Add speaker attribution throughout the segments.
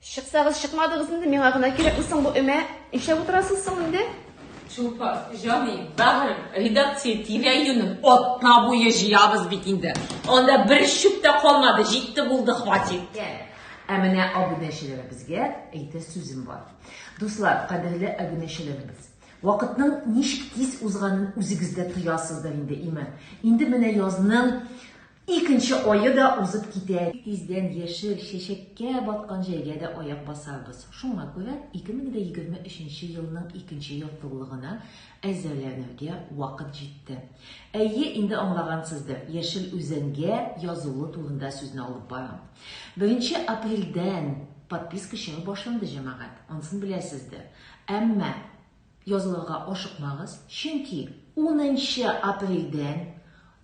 Speaker 1: Чыксагыз, чыкмадыгыз инде, миңа гына кирәкме соң бу өмә? Нишләп утырасыз соң инде? Чулпа,
Speaker 2: җаный, бәгырем, редакция тирә-юнен атна буе җыябыз бит инде. Анда бер шүп тә калмады, җитте булды, хватит. Ә менә
Speaker 3: абунәчеләребезгә әйтер сүзем бар. Дуслар, кадерле абунәчеләребез, вакытның ничек тиз узганын үзегез дә тоясыздыр инде, имән. Инде менә язның Икенче ае да узып китә. Тиздән яшел чәчәккә баткан җәйгә дә аяк басарбыз. Шуңа күрә 2023 елның икенче яртыллыгына әзерләнергә вакыт җитте. Әйе, инде аңлагансыздыр, Яшел Үзәнгә язылу турында сүзне алып барам. Беренче апрельдән подписка чоры башланды, җәмәгать, ансын беләсездер. Әмма. Язылырга ашыкмагыз, чөнки унынчы апрельдән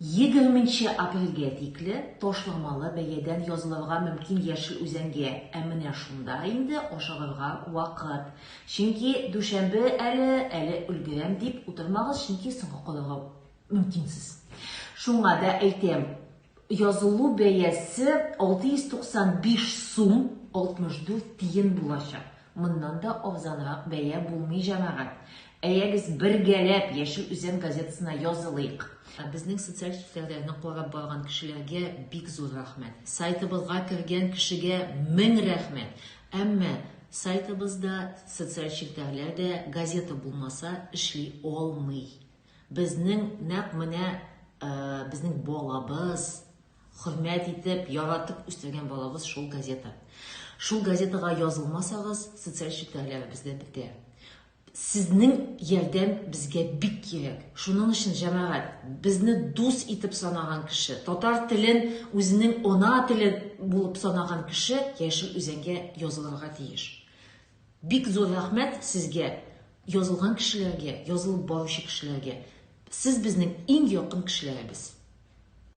Speaker 3: егерменче апрельгә тикле ташламалы бәядән язылырга мөмкин Яшел Үзәнгә, ә менә шунда инде ашыгырга вакыт. Чөнки дүшәмбе әле, әле өлгерәм дип утырмагыз, чөнки соңга калырга мөмкинсез. Шуңа да әйтәм, Язылу бәясе 695 сум 64 тиен булачак. Моннан да арзанрак бәя булмый, җәмәгать. Әйәгез, бергәләп Яшел Үзән газетасына язылыйк. Безнең социаль челтәрләрне карап барган кешеләргә бик зур рәхмәт. Сайтыбызга кергән кешегә мең рәхмәт. Әмма сайтыбыз да, социаль челтәрләр дә газета булмаса эшли алмый. Безнең нәкъ менә безнең балабыз, хөрмәт итеп, яратып үстергән балабыз шул газета. Шул газетага язылмасагыз, социаль челтәрләр бездә бетә. Сезнең ярдәм безгә бик кирәк. Шуның өчен җәмәгать, безне дус итеп санаган кеше, татар телен үзенең ана теле булып санаган кеше Яшел Үзәнгә язылырга тиеш. Бик зур рәхмәт сезгә, язылган кешеләргә, язылып баручы кешеләргә. Сез безнең иң якын кешеләребез.